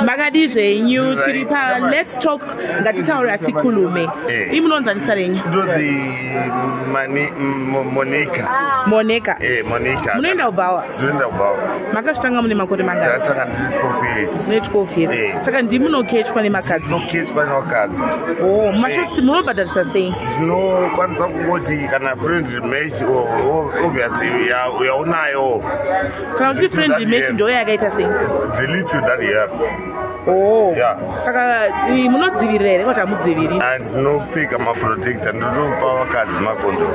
makadii zvenyu tiri pa lets talk ngatitaura sikhulume eh. imi munonzanisa renyu ndonzi monika monika eh, monika munoenda kubhawa ndinoenda kubhawa makazvitanga mune makore mangani ndatanga ndiri 12 years mune 12 years eh. saka ndi munokechwa nemakadzi ndinokechwa nemakadzi oh mashotsi eh. munobhadharisa sei ndinokwanisa kungoti kana friend match obviously yaunayo kana uchi friend match ndo yakaita sei the little that he have oh yeah saka munodzivirira here kuti amudziviri and no pika ma protector ndo no power cards ma kondo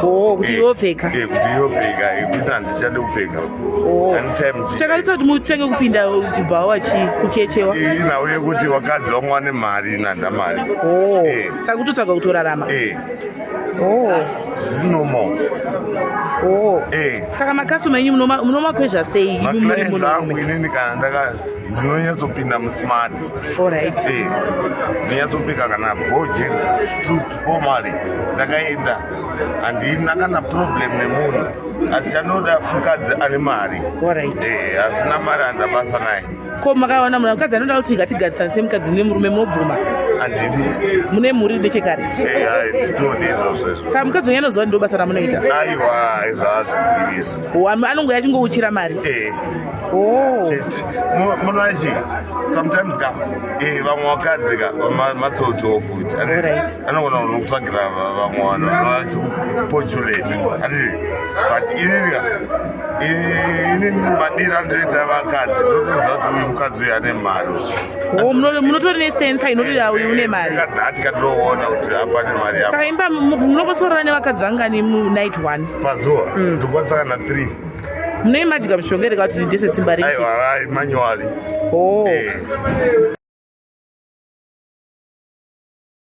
oh kuti yo pika eh kuti yo pika eh kuti andi chade kupika oh and time chaka litsa kuti mutenge kupinda kubva wachi kukechewa eh na uye kuti wakadzi wamwa ne mari na ndamari oh eh. saka kutotsvaga kutorarama eh Oh. No more. Oh. Hey. Eh. Saka makasoma enyu munomakwezva sei? Maclients angu inini kana ndaka ndinonyatsopinda musmart. Alright. Hey. Eh. Ndinyatsopika kana bojen suit formally ndakaenda handina kana problem nemunhu asi chanoda mukadzi ane mari. Alright. Hey. Eh, asina mari handabasa naye. ko makaona munhu mukadzi anoda kuti ngatigarisane semukadzi nemurume mobvuma handidi mune mhuri nechekare nditodi izvozvo izvo saka mukadzi wenyu anoziva ndo basa ramunoita aiwa izvaazvizivisa anongoya achingouchira mari oh. chete munoachi sometimes ka eh, vamwe vakadzi ka matsotsowo futi anogona kutsvagira vamwe vanhu vachikupotulate handii but inini inini madira ndinoita vakadzi ndotoziva kuti uyu mukadzi uyu ane mari oh, munotori nesensa inoti ah, uyu une mari kadhati katoona kuti apa ne mari yako saka imba munombosorora nevakadzi vangani munight one pazuva mm. ndikwanisa kana three mune imajiga mishonga ere kauti ndese simba rei aiwa imanyowali oh. Eh.